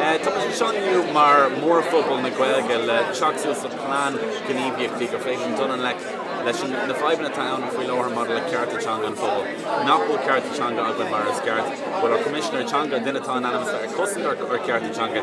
Tá muid ag seo inniu mar mhórphobal na Gaeilge le teacht suas le plean Gníomhaíochtaí gur féidir linn dul i ngleic leis na fadhbanna atá ann faoi láthair maidir le cearta teanga an phobail. Nach bhfuil cearta teanga againn mar is ceart? Bhuel, ár gCoimisinéir Teanga, duine atá in ainm is a bheith ag cosaint ár gcearta teanga,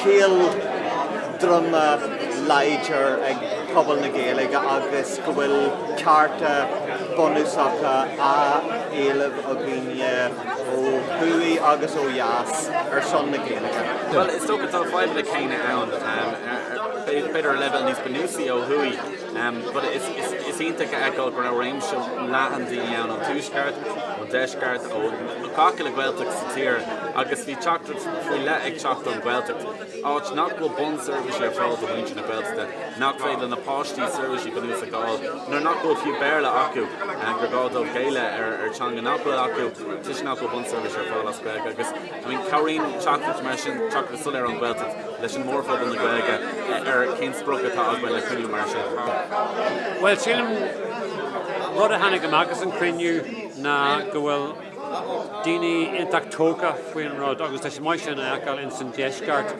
Cnámh droma láidir ag pobal na Gaeilge agus go bhfuil cearta bunúsacha á éileamh againne ó thuaidh agus ó dheas ar son na Gaeilge. Bhuel, is dócha tá na fadhbanna céanna ann, b'fhéidir ar leibhéal níos bunúsaí ó thuaidh. But is iontach a fheiceáil go raibh réimse leathan daoine ann, ón Tuaisceart, ón Deisceart, ó gach uile Ghaeltacht sa tír agus bhí teachtaireacht faoi leith ag teacht ón Ghaeltacht, áit nach bhfuil bunseirbhísí ar fáil do mhuintir na Gaeltachta, nach féidir le na páistí seirbhísí bunúsacha a fháil nuair nach bhfuil fiú Béarla acu, gur gá dóibh géilleadh do theanga nach bhfuil acu toisc nach bhfuil bunseirbhísí ar fáil as Gaeilge agus. Cabhraíonn teachtaireacht mar sin, teachtaireacht soiléir ón Ghaeltacht, leis an mórphobal na Gaeilge ar cén sprioc atá againn le cruinniú mar seo. Bhuel, sílim, rud a tháinig amach as an chruinniú ná go bhfuil daoine iontach tógtha faoin rud agus tá sé maith sin a fheiceáil ins an deisceart.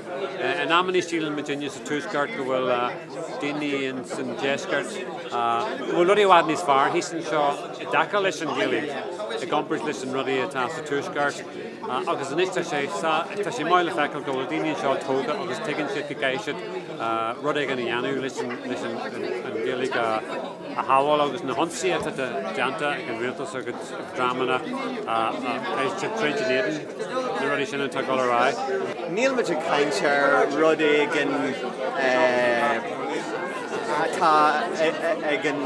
In amannaí síleann muidinne sa tuaisceart go bhfuil daoine ins an deisceart go bhfuil rudaí i bhfad níos fearr thíos anseo i dtaca leis an Ghaeilge i gcomparáid leis na rudaí atá sa tuaisceart. Agus anois tá sé sa, tá sé maith le feiceáil go bhfuil daoine anseo tógtha agus tuigeann siad go gcaithfidh siad rud éigin a dhéanamh leis an, leis an, an Ghaeilge a shábháil agus na hionsaithe atá déanta ag an Rialtas agus ag dreamanna eile troid in éadan na rudaí sin atá ag dul ar aghaidh. Nílimid ag caint ar rud éigin. atá ag an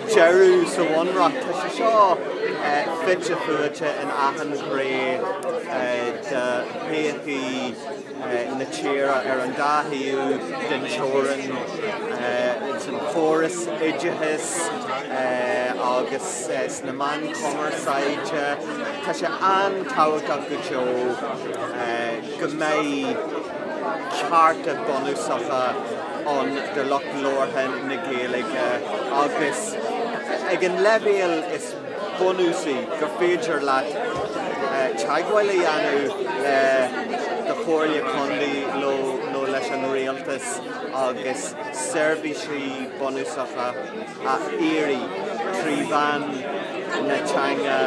deireadh sa bhunreacht. Tá sé seo fite fuaite in achan ghné de thógáil na tíre ar an dá thaobh den teorainn, sa chóras oideachais agus sna meáin chumarsáide. Tá sé an-tábhachtach go deo go mbeidh cearta bunúsacha ann do lucht labhartha na Gaeilge agus ag an leibhéal is bunúsaí gur féidir leat teagmháil a dhéanamh le do Chomhairle Contae nó leis an Rialtas agus seirbhísí bunúsacha a iarraidh trí mheán na teanga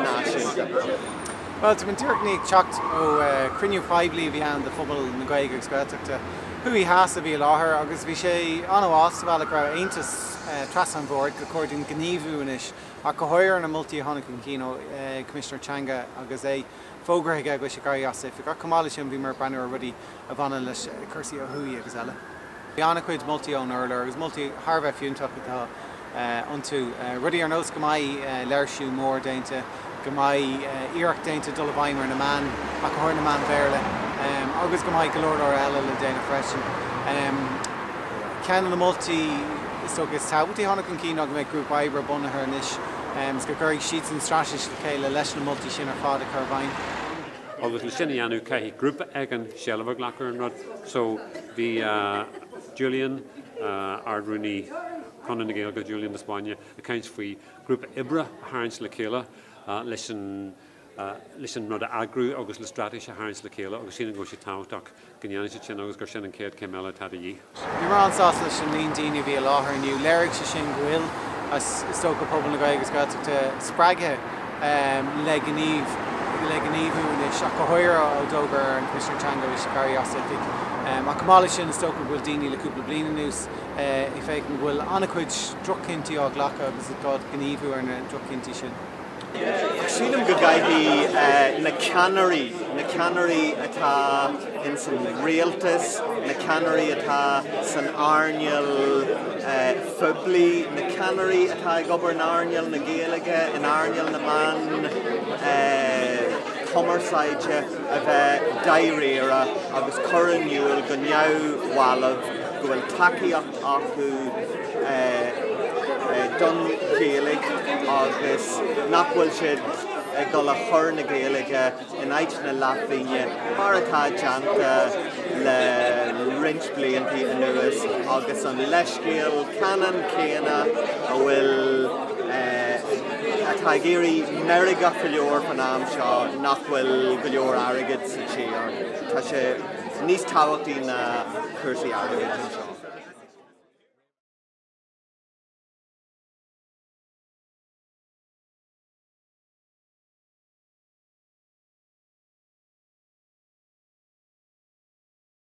náisiúnta. Bhuel, tá mé tar éis a bheith ag teacht ó chruinniú poiblí a bhí ann do phobal na Gaeilge agus Gaeltachta thuaidh theas a bhí i láthair agus bhí sé an-shásamhala go raibh aontas trasna an bhoird gur chóir dúinn gníomhú anois ach go háirithe ar na moltaí a tháinig chun cinn ó Choimisinéir Teanga agus é fógartha aige go bhfuil sé ag éirí as oifig. Ach chomh maith leis sin bhíomar ag breathnú ar rudaí a bhaineann le cúrsaí ó thuaidh agus eile. Bhí an-chuid moltaí ón urlár agus moltaí thar a bheith fiúntach atá. iontu. Rudaí ar nós go mbeidh léirsiú mór déanta, go mbeidh iarracht déanta dul i bhfeidhm ar na meáin, ach go háirithe na meáin Bhéarla, agus go mbeidh go leor leor eile le déanamh freisin. Ceann de na moltaí is dócha is tábhachtaí a tháinig chun cinn ná go mbeadh grúpa oibre bunaithe anois go gcuirfidh siadsan straitéis le chéile leis na moltaí sin ar fad a chur i bhfeidhm. Agus le sin a dhéanamh caithfidh grúpa éigin seilbh a ghlacadh ar an rud so bhí Julian, Ard-Rúnaí, Conradh na Gaeilge, Julian de Spáinne, ag caint faoi ghrúpa oibre a tharraingt le chéile leis an rud a eagrú agus le straitéis a tharraingt le chéile agus sílim go bhfuil sé tábhachtach go ndéanfaidh siad sin agus gur sin an chéad chéim eile atá de dhíth. Bhí mé an-sásta leis an líon daoine a bhí i láthair inniu. Léirigh sé sin go bhfuil, is dócha, pobal na Gaeilge agus Gaeltachta spreagtha le gníomhú anois ach go háirithe ó d'fhógair an Coimisinéir Teanga go mbeidh sé ag éirí as oifig. Ach chomh maith leis sin, is dócha go bhfuil daoine le cúpla bliain anuas, ag feiceáil go bhfuil an-chuid droch-chinntí á ghlacadh agus i gá dúinn gníomhú ar na droch-chinntí sin. Ach sílim go gcaithfidh na ceannairí, na ceannairí atá ins an rialtas, na ceannairí atá san earnáil phoiblí, na ceannairí atá ag obair in earnáil na Gaeilge, in earnáil na meán cumarsáide, a bheith dáiríre agus cur in iúl go neamhbhalbh go bhfuil tacaíocht acu don Ghaeilge agus nach bhfuil siad ag dul a chur na Gaeilge in áit na leathphingine mar atá déanta le roinnt blianta anuas agus an leithscéal ceannann céanna a bhfuil atá ag éirí meirgeach go leor fán am seo nach bhfuil go leor airgid sa tír. Tá sé. níos tábhachtaí ná cúrsaí airgid anseo.